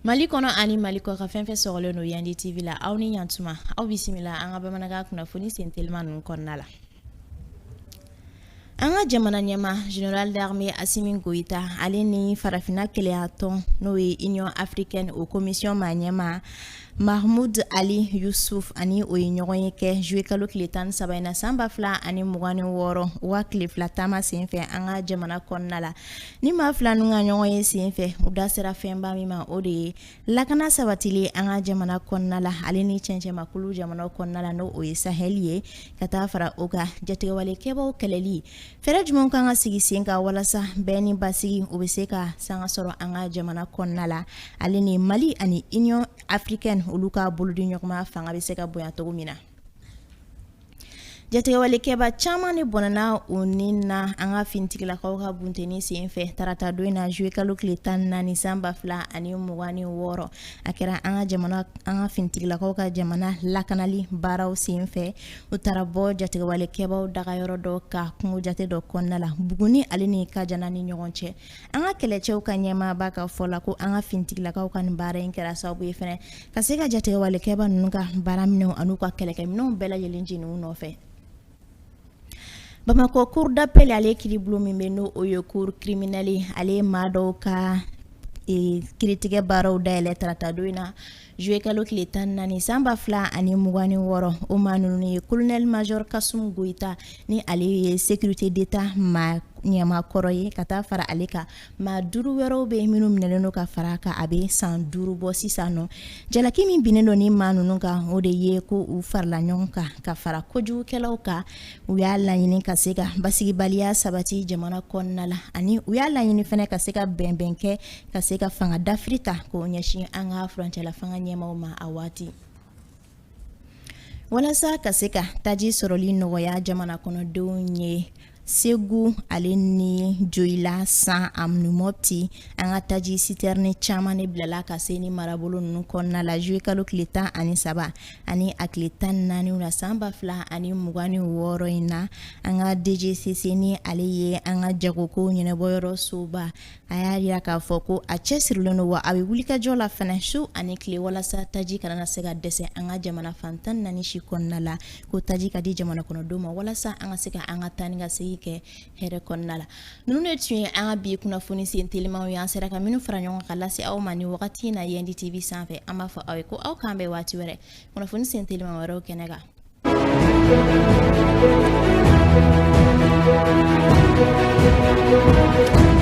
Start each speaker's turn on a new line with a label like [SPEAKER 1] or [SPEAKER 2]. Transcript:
[SPEAKER 1] mali kɔnɔ ani mali kɔkan fɛn fɛn sɔgɔlen don yandi tv la aw ni yantuma aw bisimila an ka bamanankan kunnafoni sentelima ninnu kɔnɔna la an ka jamana ɲɛmaa general d'armée asimi goyita ale ni farafina kelenyatɔn n'o ye union africaine o commission maa ɲɛmaa Mahmud Ali Yusuf ani o ye ɲɔgɔn ye kɛ juillet kalo tile 13 in na san 2026 u ka tile fila taama senfɛ an ka jamana kɔnɔna la ni maa fila ninnu ka ɲɔgɔn ye senfɛ u da sera fɛnba min ma o de ye lakana sabatili an ka jamana kɔnɔna la ale ni cɛncɛnmakulu jamanaw kɔnɔna la n'o ye sahɛli ye ka taa fara o kan jatigɛwalekɛbaaw kɛlɛli Fɛɛrɛ jumɛn ka kan ka sigi sen kan walasa bɛn ni basigi o bɛ se ka sanga sɔrɔ an ka jamana kɔnɔna la ale ni Mali ani Union africaine olu ka bolodiɲɔgɔnma fanga bɛ se ka bonya cogo min na jatigɛwalekɛba caman de bɔnɛna u ni na an ka finitigilakaw ka bunteni senfɛ tarata don in na juwe kalo tile tan ni naani san ba fila ani mugan ni wɔɔrɔ a kɛra an ka jamana an ka finitigilakaw ka jamana lakanali baaraw senfɛ u taara bɔ jatigɛwalekɛbaw dagayɔrɔ dɔ kan kungo jate dɔ kɔnɔna la buguni ale ni kajana ni ɲɔgɔn cɛ an ka kɛlɛcɛw ka ɲɛmaaba ka fɔ la ko an ka finitigilakaw ka nin baara in kɛra sababu ye fana ka se ka jatigɛwalekɛba ninnu ka baara minɛnw an'u ka kɛlɛkɛminɛnw bɛɛ lajɛlen jeni u nɔfɛ bamakɔ cour d'appel ale kiiribulon min bɛ n'o ye cour criminelle ale ye maa dɔw ka kiiritigɛ baaraw dayɛlɛ tarata don in na Zuwekalo tile tan naani sanba fila ani mugan wɔɔrɔ o maa ninnu ye kolonɛli major kasum goyita ni ale ye sécurité d'état maa ɲɛmaa kɔrɔ ye ka taa fara ale kan maa duuru wɛrɛw bɛ minnu minɛlen don ka fara kan a bɛ san duuru bɔ sisan nɔ jalaki min binnen don ni maa ninnu kan o de ye ko u farala ɲɔgɔn kan ka fara kojugukɛlaw kan u y'a laɲini ka se ka basigibaliya sabati jamana kɔnɔna la ani u y'a laɲini fana ka se ka bɛnbɛn kɛ ka se ka fanga dafiri ta k'o ɲɛsin an ka furancɛla fanga ɲɛmaaw ma a waati walasa ka se ka taji sɔrɔli nɔgɔya jamana kɔnɔdenw ye segu ale ni joyila san ani mɔpti an ka taji sitɛrini caman de bilala ka se ni marabolo ninnu kɔnɔna la juye kalo tile tan ani saba ani a tile tan ni naani na san ba fila ani mugan ni wɔɔrɔ in na an ka dgcc ni ale ye an ka jagoko ɲɛnabɔyɔrɔ soba a y'a jira k'a fɔ ko a cɛsirilen don wa a bɛ wulikajɔ la fana su ani tile walasa taji kana na se ka dɛsɛ an ka jamana fan tan naani si kɔnɔna la ko taji ka di jamana kɔnɔdenw ma walasa an ka se ka an ka taa ni ka segin kɛ hɛrɛ kɔnɔna la ninnu de tun ye an ka bi kunnafoni sen telimaw ye an sera ka minnu fara ɲɔgɔn ka lase aw ma ni wagati in na yɛndi tv sanfɛ an b'a fɔ aw ye ko aw k'an bɛn waati wɛrɛ kunnafoni sen telima wɛrɛw kɛnɛ kan